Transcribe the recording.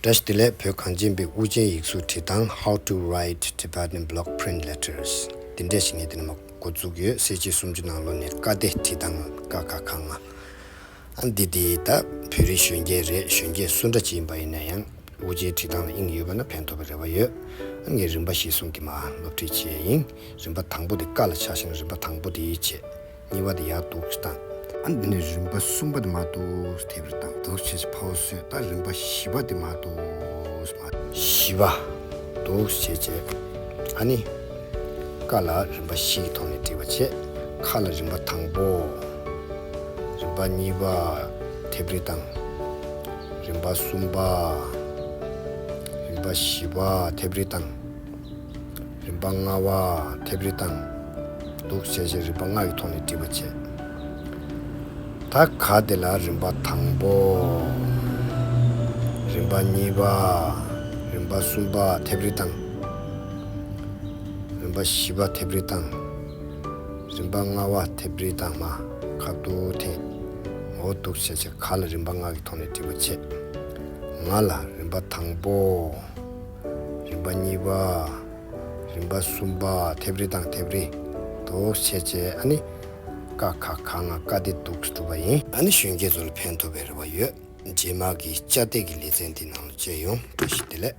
སྒྲ་བཞི་ལས་བོད་གངས་ཅན་པའི་དབུ་ཅན་ཡིག་གཟུགས་བྲིས་ཐང How to write Tibetan Block Print Letters འདི་འདྲས་ཤིག་ངས་འདི་ནས་མ་འགོ་འཛུགས་ཡོད་གསལ་བྱེད་སུམ་ཅུ་ནང་ལོ་ནས་བཀའ་བདེ་བྲིས་ཐང་ཀ་ཁ་ཁ་ང་ཨ་འདི་འདི་ད་བོད་རིགས་གཞོན་སྐྱེས་རེད་གཞོན་སྐྱེས་སུ་འདྲ་ཅིག་ཡིན་པ་ཡིན་ན་ཡང་དབུ་ཅན་བྲིས་ཐང་ལ་དབྱིངས་ཡོད་པ་ན་ཕན་ཐོགས་པའི་རེ་བ་ཡོད་ཨ་ངས་རིམ་པ་བཞི་གསུམ་གྱི་མ་སློབ་ཁྲིད་བྱས་ཡིན་རིམ་པ་དང་པོ་དེ་ཀ་ལ་ཆགས་ཤིང་རིམ་པ་དང་པོ་དེའི་རྗེས། ཉེས་པ་དེ་ཡག་འདུག་ཅེས་དང། ཨ་འདི་ནི་རིམ་པ་གསུམ་པ་དེ་མ་འདུག་དེ་བེར་དང་འདུག་ཅེས་ཕ་བོ་སོས་ད་རིམ་པ་བཞི་པ་དེ་མ་འདུག་མ་བཞི་པ་འདུག་ཅེས་བྱས། ཨ་ནི། ཀ་ལ་རིམ་པ་བཞི་གི་ཐོག་ནས་འདྲི་བ་བྱས། ཁ་ལ་རིམ་པ་དང་པོ། རིམ་པ་གཉིས་པ། དེ་བེར་དང། རིམ་པ་གསུམ་པ། རིམ་པ་བཞི་པ་དེ་བེར་དང། རིམ་པ་ལྔ་བ། མཐེབ་རི་དང། གདུགས་བྱས་ཤིང་རིམ་པ་ལྔ་ཡི་ཐོག་ནས་བྲིས་པ་བྱེད། ད་གའ་དེ་ལ་རིམ་པ་དང་པོ། རིམ་པ་གཉིས་པ། རིམ་པ་གསུམ་པ་མཐེབ་རི་དང། རིམ་པ་བཞི་པ་མཐེབ་རི་དང། རིམ་པ་ལྔ་བ་མཐེབ་རི་དང་མ་ག་དུ་ཐེ། ངོ་བོ་གདུགས་བྱས་ཤིང་ག་ལ་རིམ་པ་ལྔ་གི་ཐོག་ནས་བྲིས་པ་བྱེད། ང་ལ་རིམ་པ་དང་པོ། རིམ་པ་གཉིས་པ། རིམ་པ་གསུམ་པ་ཐེབས་རི་དང་ཐེབས་རི་འདུག་བྱས་རྗེས་ཨ་ནི་དཀའ་ཁག་གང་ང་དཀའ་བདེ་སྡུག་གིས་གྲུབ་པ་ཡིན། ཨ་ནི་གཞོན་སྐྱེས་ཚོ་ལ་ཕན་ཐོབ་པའི་རེ་བ་ཡོད་རྗེས་མར་གྱི་དཔྱ་གཏད་ཀྱི་ལེ་ཚན་འདི་ནང་ལ་བཅས་ཡོང་བཀྲ་ཤིས་བདེ་ལེགས།